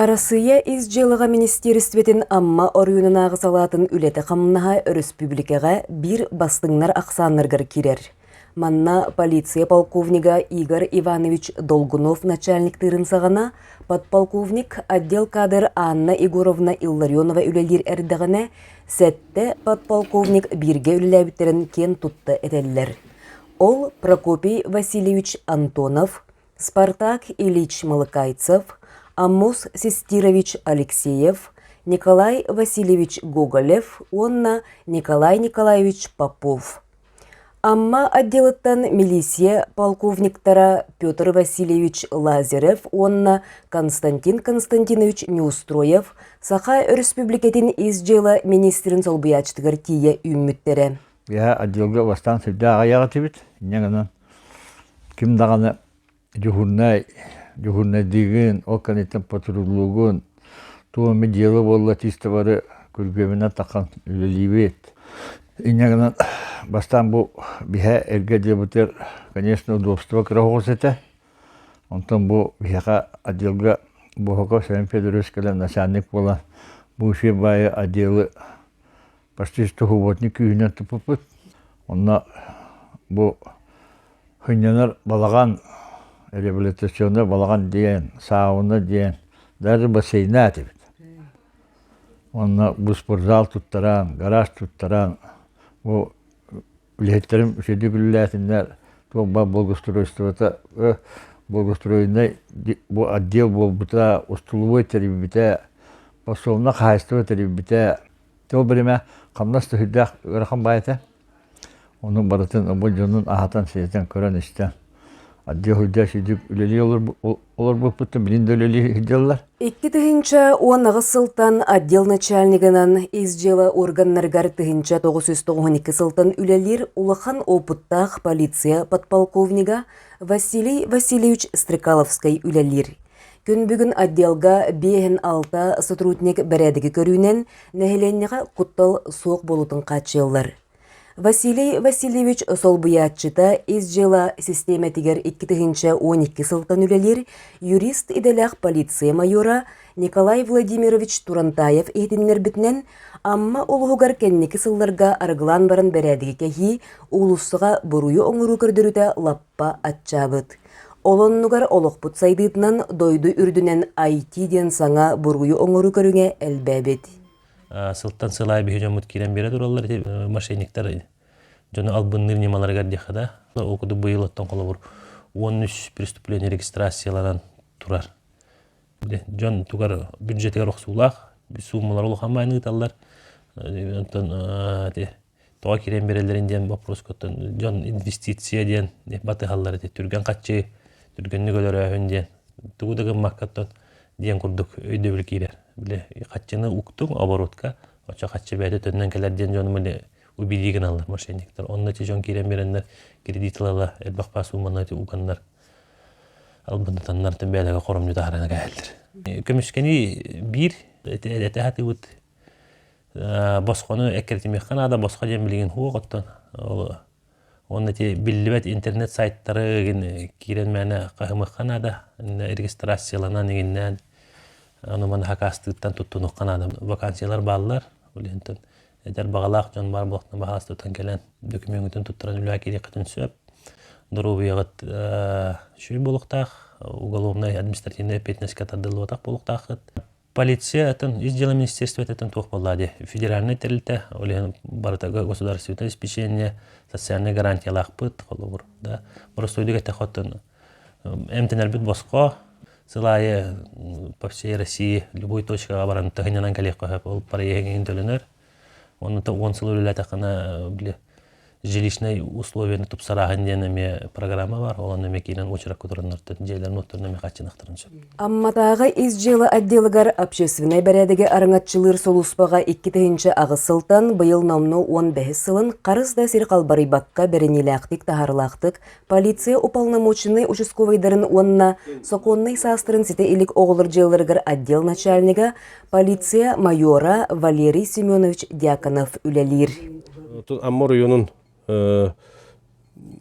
Арассыыйа ис дьыалаҕа министиэристибэтин Амма оройуонунааҕы салаатын үлэтэ-хамнаһа өрөспүүбүлүкэҕэ биир бастыҥнар ахсааннарыгар киирэр. Манна полиция полковнига Игорь Иванович Долгунов начальниктыырын саҕана подполковник отдел кадр Анна Егоровна Илларионова үлэлиир эрдэҕинэ, сэттэ подполковник бииргэ үлэлээбиттэрин киэн тутта этэллэр. Ол Прокопий Васильевич Антонов, Спартак Ильич Малыкайцев, Аммос Систирович Алексеев, Николай Васильевич Гоголев уонна Николай Николаевич Попов. Амма отделыттан милиция полковниктара Петр Васильевич Лазарев уонна Константин Константинович Неустроев Саха Өрөспүүбүлүкэтин ис дьыала министрин солбуйааччытыгар тиийэ үүммүттэрэ. Биһа отделга бастаан сирдээх аҕыйах этибит. Инньэ гынан ким даҕаны дежурнай, дежурнайдыыгын, ол кэнниттэн патруллуугун, туох эмэ дело буолла чисто бары күргүөмүнэн тахсан үлэлиибит. Инньэ гынан бастаан бу биһэ эргэ дьиэбитигэр, конечно, удобство кыра оҕус этэ. Онтон бу биһиэхэ отделга Бохоков Семен Федорович кэлэн начальник буолан бывшие баайы отделы Постista уһуботник күүһүнэн туппуппут. Онно бу хынньанар балаҕан, реабилитационный балаҕан диэн, сауна диэн, даже бассейна этибит. Онно буспортзал туттаран, гараж туттаран, бу үлэһиттерим үчэйдик үлэлээтиннэр, туох-бар благоустройствота, благоустроенный бу отдел буолбута, устулубой тэрийбитэ, пособно хаһайыстыба тэрийбитэ, Ол биримэ хамнас да сүрдээх ыарахан баай этэ. Ону барытын омбо дьонун аһатан-сиэтэн, көрөн-истэн, отдел-сойдел сүйдүк үлэлии олорбуппуттан билин да үлэлии сылдьаллар. Икки тыһынча он аҕыс сылтан отдел начальнигынан ис дьыла органнарыгар тыһынча тоғыз жүз тоғыз екі сылтан үлелир улахан опыттаах полиция подполковнига Василий Васильевич Стрекаловский үлелир. Күн бүгүн отделга 5-6 сотрудник бэрээдэги көрүүнэн нэһилиэнньэҕэ куттал суох буолуутун хааччыйаллар. Василий Васильевич солбуйааччыта ис дьыала систиэмэтигэр икки тыһыынча он икки сылтан үлэлиир юрист идэлээх полиция майора Николай Владимирович Турантаев иһитиннэрбитинэн, Амма улуһугар кэнники сылларга арыгылаан баран бэрээдэги кэһии уулуссаҕа буруйу оҥоруу көрдөрүтэ лаппа Лаппа аччаабыт. Ол оннугар олохпут сайдыытынан дойду үрдүнэн IT диэн саҥа буруйу оҥоруу көрүҥэ элбээбит. Сылтан сыл аайы биһи дьоммут киирэн биэрэ тураллар ити мошенниктар дьону албынныыр ньымаларыгар диэххэ да ол курдук быйыл оттон холобур уон үс преступление регистрацияланан турар. Дьон тугар бюджетигэр охсуулаах суумалар улахан мааны ыыталлар. Оттон ити тоҕо киирэн биэрэллэрин диэн боппуруоскуттан дьон инвестиция диэн батыһаллар ити түргэн хаччыы түргэнник өлөрөөһүн диэн тугу да гыммаккаттан диэн курдук өйдөбүл киирэр били хаччыны уктуҥ оборотка очо хаччы бэйэтэ төннөн кэлэр диэн дьон били убилии гыналлар мошенниктар онночу дьон киирэн биэрэннэр кредит ылала элбэх паас сууманы уганнар албындатаннар бэйэлэгэ хоромньу таһарана кэһэллэр көмүскэни биир этэ сатыыбыт босхону эккирэтимиэххэ наада босхо диэн билигин уох оттон уонна ити биллибэт интернет сайтары игин киирэн мээнэ хаһымыахха наада регистрацияланан игиннээн аны маны хакаастыыртан туттунуохха наада вакансиялар бааллар ол иһинтэн эдэр баҕалаах дьон баар буолуохтуна баһааласта тутан кэлэн докумүөҥҥүтүн туттаран үлэҕэ киириэххитин сөп доруобуйаҕыт сүрүн буолуохтаах уголовнай административнай эппиэтинэскэ тардыллыбатах буолуохтааххыт полиция атын, ис дьыла министерствотыттан туох буолла дии. Федеральнай тэрилтэ, ол иһин барыта государственное обеспечение, социальнай гарантиялаахпыт, холобур, да, боростуойдук этэ хотон эмтэнэрбит босхо, сыл аайы по всей России любой точкаҕа баран тыһынынан кэлиэх қоһоп ол проектиҥ төлөнөр Онно он сыл үлэлээтэххинэ били жилищнай условиены тупсарааһын диэн эмиэ программа бар ол эмиэ киинэн очеракка тураннартан дьиэлэрин отторун эмиэ хааччынахтарын сөп Амматааҕы ис дьыала отделыгар общественнай бэрээдэги араҥаччылыыр солууспаҕа икки тыһыынча аҕыс сылтан быйыл номну уон бэһис сылын харыс да сир халбарыйбакка бэриниилээхтик таһаарылаахтык Полиция уполномоченнай участковайдарын уонна сокуоннай саастарын ситэ илик оҕолор дьыалаларыгар отдел начальнига, полиция майора Валерий Семенович Дьяконов үлэлиир. Амма оройуонун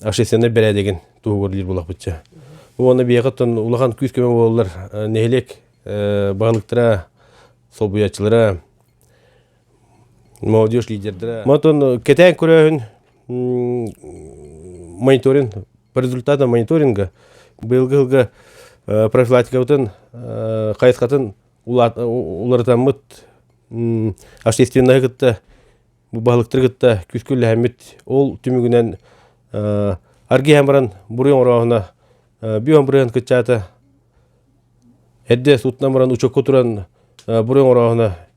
общественнай бэрээдэгин туһугар диир булахпытча. Уонна биэҕэттэн улахан күүс-көмө буоллар нэһилиэк баһылыктара, солбуйаччылара, Молодежь лидердэрэ. Мантон кэтээн көрөөһүн мониторинг по результатам мониторинга быйылгы сылга профилактикабытын хайысхатын уларытаммыт общественнайы кытта бу баһылыктары кытта күүскүллэһэммит ол түмүгүнэн аргиһан баран буруй оҥорооһуна бүөн бырыһан кыччаата эрдэ суутунан баран учекка туран буруй оҥорооһуна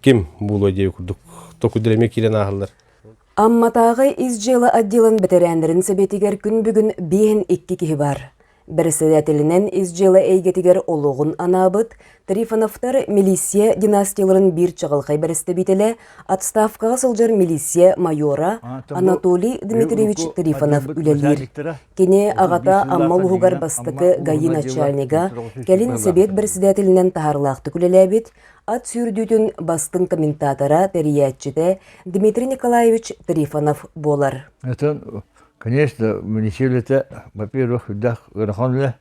ким буолуой диэби курдук токуйдар эмиэ киирэн ааһаллар Амматааҕы ис дьыала отделын бэтэрээннэрин сэбиэтигэр күн бүгүн биэһин икки киһи баар. Бэрэссэдээтэлинэн ис дьыала эйгэтигэр олоҕун анаабыт Трифоновтар милиция династияларын биир чаҕылхай бэрэстэбиитэлэ, отставкаҕа сылдьар милиция майора Анатолий Дмитриевич Трифонов үлэлиир. Кини аҕата Амма улууһугар бастакы ГАИ начальнига, кэлин сэбиэт бэрэссэдээтэлинэн таһаарылаахтык үлэлээбит, Ат сүүрдүүтүн бастыҥ комментатора, тэрийээччитэ Дмитрий Николаевич Трифонов буолар. Атын, конечно, муниципалитет, во-первых, да Верховная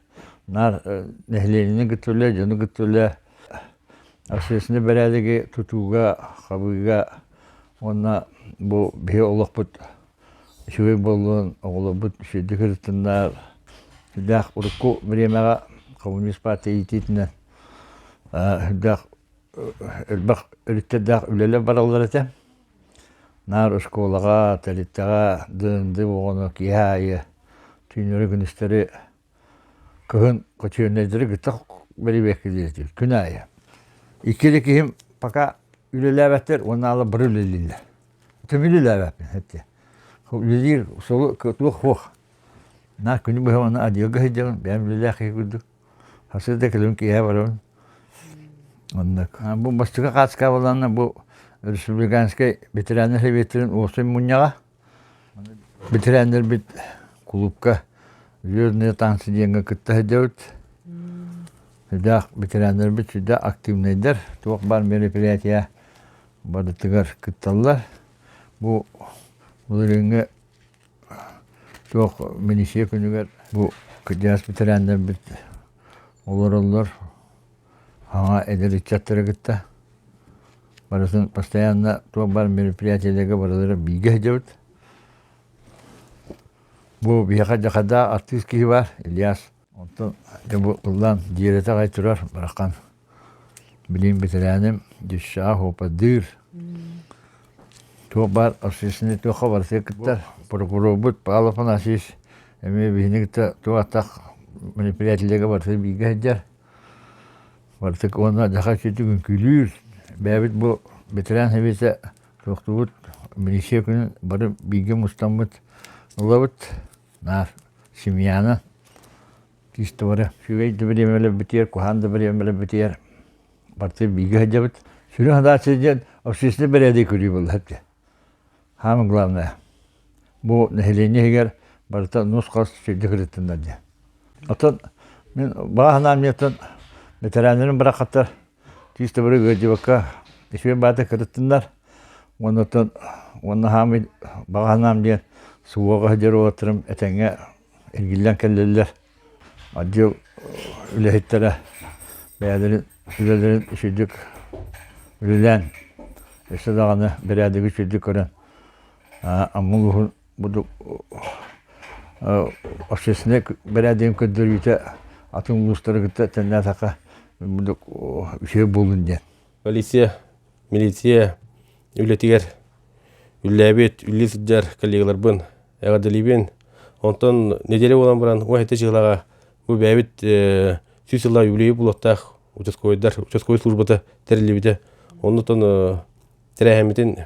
нар нэһилиэнньэни гыттыле, дьону гыттыле, общественный бэрээдэги тутууга, хабыыга уонна бу биһи олохпут үчүгэй буоллун оҕолорбут үчүгэйдик ырытыннар сүрдээх урукку бириэмэҕэ коммунист партия иитиитинэн сүрдээх элбэх өрүттэрдээх үлэлэр бараллар этэ наар оскуолаҕа тэрилтэҕэ ДНД оҕону киэһэ аайы түүннэри күнүстэри Кыһын хочуольнайдары кытта бэрибиэккилиир күн аайы. Икки да киһим пока үлэлээбэттэр уонна ала бары үлэлииллэр. Төбүн үлэлээбэппин эттэ. Үлэлиир солу туох-хуох. На күнү быһа уонна адьыалга сылдьабын, бэйэм үлэлээх киһи курдук. Хасыда кэлэбин киэһэ барабын. Оннук. Бу бастакы хаачкаабаланна бу республиканскай ветераннар сэбиэтин уопсай мунньаҕа. Битирээннэрбит кулуупка Звездные танцы диэҥҥэ кытта сылдьабыт. Сүрдээх битирээннэрбит сүрдээх активнайдар. Туох баар мероприятия барытыгар кытталлар. Бу былырыыҥҥы туох миниистир күнүгэр бу кырдьаҕас битирээннэрбит олороллор Аңа эдэр ыччаттары кытта барытын постоянно туох-бар мероприятиеларга барылары бииргэ сылдьабыт. Бу биһиэхэ Дьахарда артыыс киһи баар, Ильяс. Оттон ити бу ыллаан дьиэрэтэ аҕай турар Барахан. Билигин бэтэрээним Дюшаа Хопадыыр. Туох-бар общественный туохха барытыгар кыттар. Прокурорбут Павел Афанасьевич эмиэ биһини кытта туох-аттах мероприятиеларга барытын бииргэ сылдьар. Бартык уонна дьаха сүтүгүн күлүүр, бэйэбит бу ветеран сэбиэтэ туохтубут милиция күнүн бары бииргэ мустаммыт ылабыт, наар семьяны тиисте бары үчүгэй да бэриэмэлэрбитигэр, куһаан да бэриэмэлэрбитигэр барды бииргэ сылдьабыт. Сүрүн хадаарчы диэн общественнай бэрээдэги көрүү буолла Самое главное, бу нэһилиэнньэ иһигэр барыта нус-хас сирдик ырыттыннар диэн. Оттон мин бааһынаан миэттэн бэтэрээннэрим барахаттар тиис табыры ыалдьыбакка ичүгэн баата кырыттыннар уонна оттон уонна хаамый баҕаһынаам диэн суоҕа сыдьар уолаттарым этэҥҥэ эргиллэн кэллилэр отдел үлэһиттэрэ бэйэлэрин үлэлэрин үчүгдүк үлэлээн өссө даҕаны бэрээдэги үчүгдүк көрөн Амма улууһун бурдук общественнай бэрээдэгин көрдөрүүтэ атын улуустары кытта тэннээтэххэ бурдук үчүгэй буолун диэн полиция, милиция үлэтигэр үллээбит, үллүү сылдьар коллегаларбын эҕэрдэлиибин. Онтон нэдиэлэ буолан баран ол сэттэ сыллааҕа бу бэйэбит сүүс сыллаах үбүлүөйү булуохтаах учаскуойдар учаскуой службата тэриллибитэ. Оннуттан тэрээһиммитин